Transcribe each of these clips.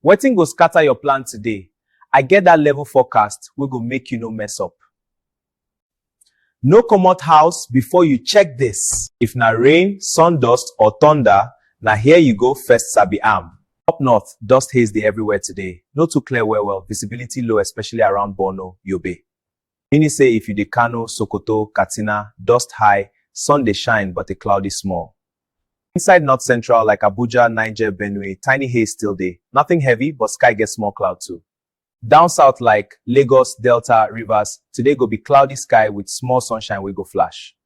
Wetin go scatter your plan today? I get that level forecast wey go make you no mess up. No comot house before you check this. If na rain, sun dust or thunder, na here you go first sabi am. Up north, dust haze dey everywhere today. No too clear well well, visibility low especially around Borno, Yobe. Meaning say if you dey Kano, Sokoto, Katsina, dust high, sun dey shine but e cloudy small. Inside North Central like Abuja, Niger, Benue, tiny haze still dey, nothing heavy but sky get small cloud too. Down South like, Lagos, Delta, Rivers, today go be cloudy sky with small sunshine wey go flash.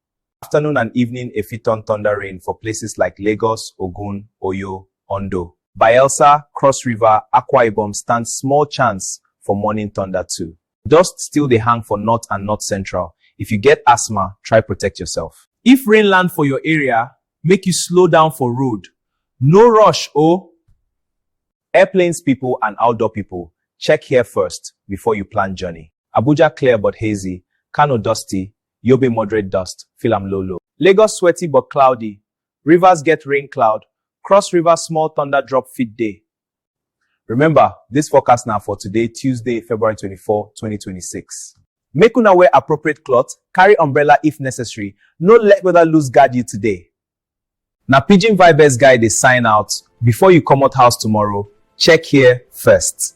Afternoon and evening e fit turn thunder rain for places like Lagos, Ogun, Oyo, Ondo. Bayelsa, Cross River, Akwa Ibom stand small chance for morning thunder too. Dust still dey hang for north and north central, if you get asthma, try protect yourself. If rain land for your area, make you slow down for road, no rush oh! Airplanes people and outdoor people, check here first before you plan journey. Abuja clear but hazy, Kano dusty, Yobe moderate dust, feel am low low. Lagos sweaty but cloudy, Rivers get rain cloud, Cross River small thunder drop fit dey, Remember, dis forecast na for today, Tuesday, February twenty four, twenty twenty six. Make una wear appropriate cloth, carry umbrella if necessary, no let weather loose guard you today. Na Pidgin Vibez guy dey sign out, before you comot house tomorrow, check here first.